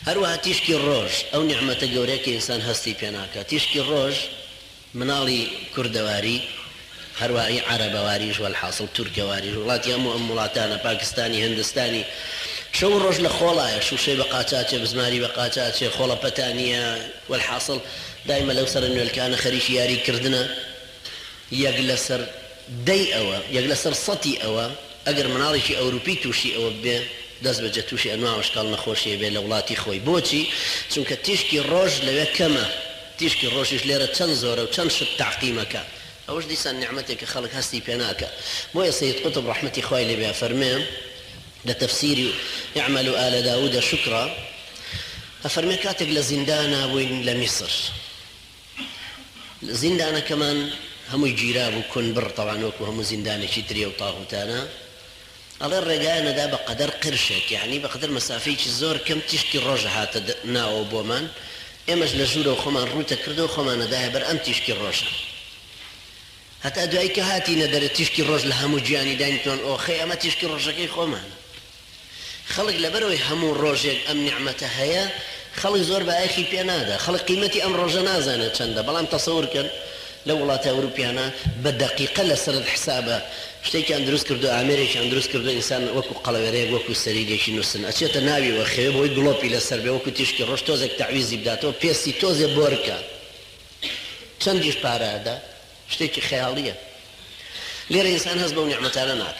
هەروەها تیشکی ڕۆژ، ئەو نیعمەتە گەورەیە کە ئینسان هەستی پێ ناکات. تیشکی ڕۆژ مناڵی کوردەواری، هەروەها ئی عەرەبەواریش، وەلحاسڵ تورکەواریش، وڵاتی هەموو ئەم وڵاتانە، پاکستانی، هندستانی، شەو و ڕۆژ لە خۆڵایە، شووشەی بە قاچاچێ، بزماری بە قاچاچێ، خۆڵەپەتا نییە، وەلحاسڵ دایمە لەو سەرە نوێلکانە خەریکی یاری کردنە. یەک لەسەر دەی ئەوە، یەک لەسەر سەتی ئەوە، ئەگەر مناڵێکی ئەوروپی تووشی ئەوە ببێ، دەست بەجێ تووشی ئەنواع و ئەشکاڵ نەخۆشی ئەبێ لە وڵاتی خۆی. بۆچی؟ چونکە تیشکی ڕۆژ لەوێ کەمە. تیشکی ڕۆژیش لێرە چەند زۆرە و چەند شت تەعقیم ئەکا. ئەوەش دیسان نیعمەتێکە خەڵک هەستی پێ ناکا. بۆیە سەید قوتب ڕەحمەتی خوای لێ بێ ئەفەرمێ لە تەفسیری، اعملوا آل داوود شکرا، ئەفەرمێ کاتێک لە زیندانا بووین لە میسر، زیندانەکەمان هەمووی گیرابوو کون بڕ تەبعەن وەکو هەموو زیندانێکی تری ئەو تاغوتانە ئەڵێ ڕێگایان ئەدا بە قەدەر قرشێک یەعنی بە قەدەر مەسافەیەکی زۆر کەم تیشکی ڕۆژ ئەهاتە ناوەوە بۆمان ئێمەش لە ژوورەوە خۆمان ڕووت ئەکرد و خۆمان ئەدایە بەر ئەم تیشکی ڕۆژە هەتا دوایی کە هاتینە دەرێ تیشکی ڕۆژ لە هەموو گیانی داینتۆن ئۆخەی ئەمە تیشکی ڕۆژەکەی خۆمانە. خەڵک لەبەرئەوەی هەموو ڕۆژێک ئەم نیعمەتە هەیە خەڵک زۆر بایەخی پێ نادا خەڵک قیمەتی ئەم ڕۆژە نازانێت چەندە بەڵام تەسەور کەن لەو وڵاتە ئەوروپیانە بە دەقیقە لەسەرت حسابە شتێکیان دروست کردوە ئامێرێکیان دروست کردوە ئینسان وەکو قەڵەوێرەیەک وەکو سەریدێکی نوستن ئەچێتە ناوی و ئەخەوێ بۆی گڵۆپی لەسەر بێ وەکو تیشکی ڕۆژ تۆزێک تەعویزی بداتەوە پێستی تۆزێ بۆرکە چەندیش پارە ئەدا شتێکی خەیاڵیە لێرە ئینسان هەست بەو نیعمەتانە ناکات.